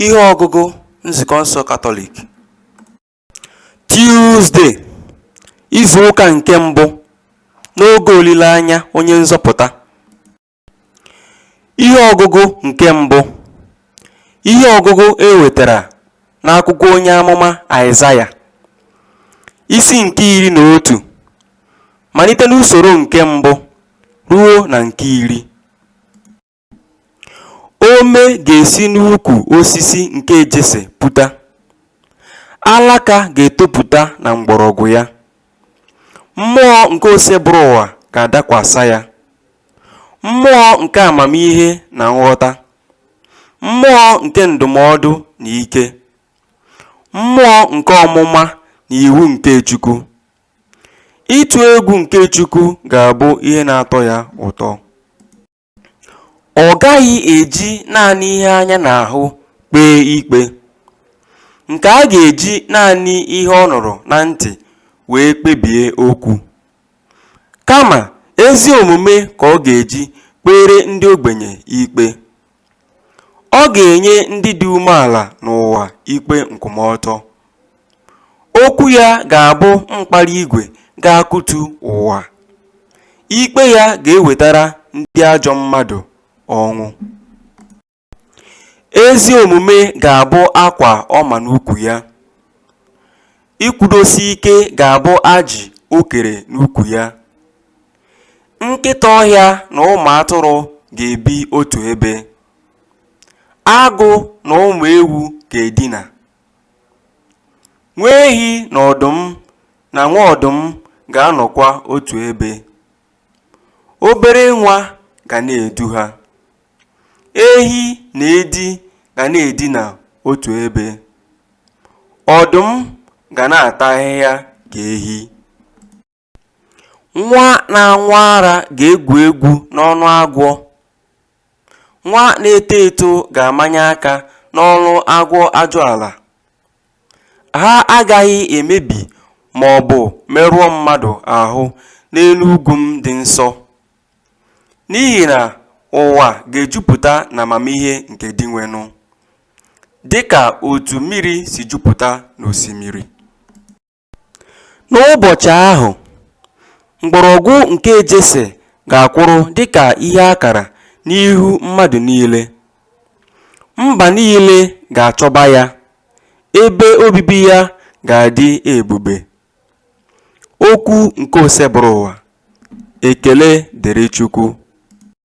Ihe ọgụgụ Nzukọ nsọ Katọlik Tuesday, izu ụka nke mbụ n'oge olileanya onye nzọpụta. Ihe ọgụgụ nke mbụ Ihe ọgụgụ e wetara n'akwụkwọ onye amụma Aịzaya, isi nke iri na otu, malite n'usoro nke mbụ ruo na nke iri. Ome ga-esi n'ukwu osisi nke Jese puta, Alaka ga-etopụta na mgbọrọgwụ ya. Mmụọ nke Osebụrụwa ga-adakwasa ya, Mmụọ nke amamihe na nghọta, Mmụọ nke ndụmọdụ na ike, Mmụọ nke ọmụma na iwu nke Chukwu. Ịtụ egwu nke Chukwu ga-abụ ihe na-atọ ya ụtọ. Ọ gaghị eji naanị ihe anya na-ahụ kpee ikpe, nke a ga-eji naanị ihe ọ nụrụ na ntị wee kpebie okwu. Kama, ezi omume ka ọ ga-eji kpeere ndị ogbenye ikpe. Ọ ga-enye ndị dị umeala n'ụwa ikpe nkwụmọtọ. Okwu ya ga-abụ mkpara igwe ga-akụtu ụwa, ikpe ya ga-ewetara ndị ajọ mmadụ ọnwụ. Ezi omume ga-abụ akwa ọ ma n'ukwu ya, ịkwụdosi ike ga-abụ ajị o kere n'ukwu ya. Nkịta ọhịa na ụmụ atụrụ ga-ebi otu ebe, agụ na ụmụ ewu ga-edina. Nwa ehi na ọdụm na nwa ọdụm ga-anọkwa otu ebe. Obere nwa ga na-edu ha. Ehi na edi ga na-edina otu ebe. Ọdụm ga na-ata ahịhịa ka ehi. Nwa na-aṅụ ara ga-egwu egwu n'ọnụ agwọ Nwa na-eto eto ga-amanye aka n'ọnụ agwọ ajụala Ha agaghị emebi ma ọ bụ merụọ mmadụ ahụ n'elu ugwu m dị nsọ N'ihi na ụwa ga-ejupụta n'amamihe nke Dinwenụ Dị ka otu mmiri si jupụta n'osimiri N'ụbọchị ahụ, mgbọrọgwụ nke Jese ga-akwụrụ dị ka ihe akara n'ihu mmadụ niile. Mba niile ga-achọba ya, ebe obibi ya ga-adị ebube. Okwu nke Osebụrụwa. Ekele dịrị Chukwu.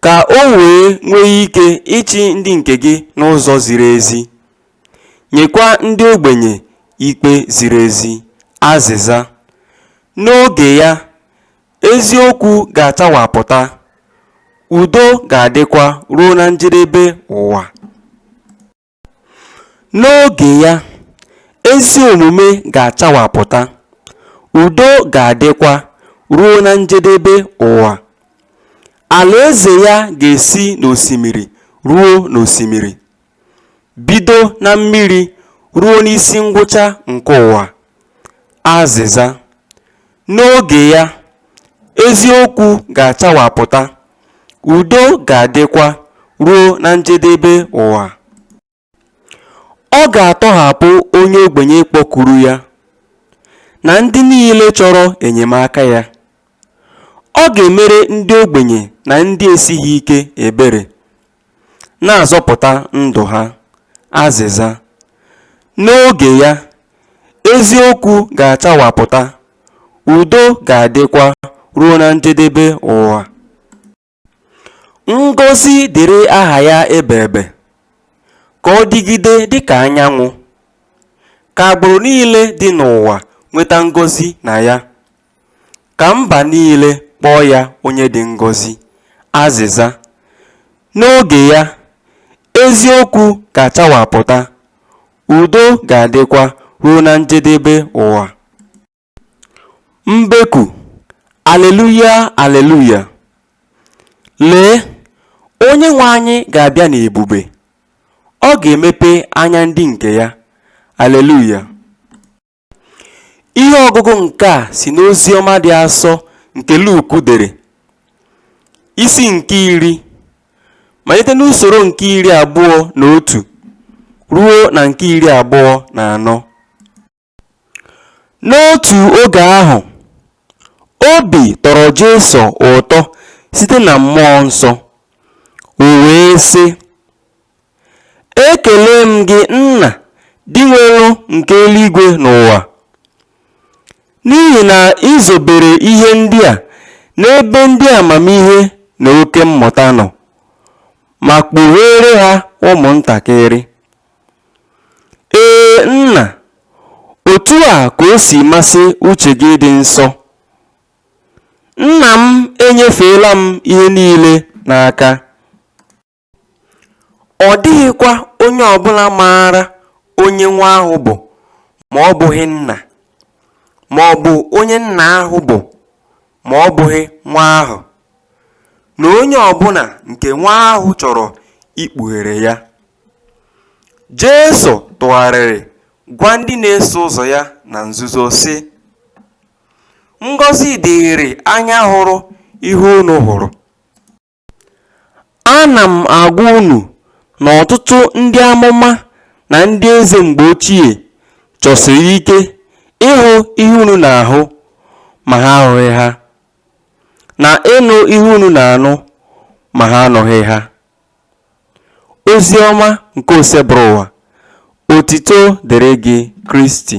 ka o wee nwee ike ịchị ndị nke gị n'ụzọ ziri ezi, nyekwa ndị ogbenye ikpe ziri ezi. Azịza: N'oge ya, eziokwu ga-achawapụta, udo ga-adịkwa ruo na njedebe ụwa. N'oge ya, ezi omume ga-achawapụta, udo ga-adịkwa ruo na njedebe ụwa. Alaeze ya ga-esi n'osimiri ruo n'osimiri, bido na mmiri ruo n'isi ngwụcha nke ụwa. Azịza. N'oge ya, eziokwu ga-achawapụta, udo ga-adịkwa ruo na njedebe ụwa. Ọ ga-atọhapụ onye ogbenye kpọkuru ya, na ndị niile chọrọ enyemaka ya. Ọ ga-emere ndị ogbenye na ndị esighị ike ebere. na-azọpụta ndụ ha. Azịza, N'oge ya, eziokwu ga-achawapụta, udo ga-adịkwa ruo na njedebe ụwa. Ngọzi dịrị aha ya ebeebe, ka ọ dịgide dịka anyanwụ, ka agbụrụ niile dị n'ụwa nweta ngọzi na ya. Ka mba niile kpọọ ya onye dị ngọzi. Azịza, N'oge ya, eziokwu ga-achawapụta, udo ga-adịkwa ruo na njedebe ụwa. Mbeku, Aleluya, aleluya! Lee, Onyenwe anyị ga-abịa n'ebube, ọ ga-emepe anya ndị nke ya. Aleluya! Ihe ọgụgụ nke a si n'Oziọma dị asọ nke Luk dere, isi nke iri, malite n'usoro nke iri abụọ na otu ruo na nke iri abụọ na anọ. N'otu oge ahụ, obi tọrọ Jesu ụtọ site na mmụọ nsọ, o wee sị, Ekelee m gị, Nna, Dinwenụ nke eluigwe na ụwa, n'ihi na i zobere ihe ndị a n'ebe ndị amamihe na oke mmụta nọ ma kpugheere ha ụmụntakịrị. Ee, Nna, otu a ka o si masị uche gị dị nsọ. Nna m enyefeela m ihe niile n'aka. Ọ dịghịkwa onye ọ bụla maara onye nwa ahụ bụ ma ọ bụghị nna, ma ọ bụ onye nna ahụ bụ ma ọ bụghị nwa ahụ, na onye ọ bụla nke nwa ahụ chọrọ ikpughere ya. Jesu tụgharịrị gwa ndị na-eso ụzọ ya na nzuzo, sị, Ngọzi dịịrị anya hụrụ ihe unu hụrụ. Ana m agwa unu na ọtụtụ ndị amụma na ndị eze mgbe ochie chọsiri ike ịhụ ihe unu na-ahụ ma ha ahụghị ha, na ịnụ ihe unu na-anụ ma ha anụghị ha. Ozi ọma nke Osebụrụwa, otito dịrị gị Kristi.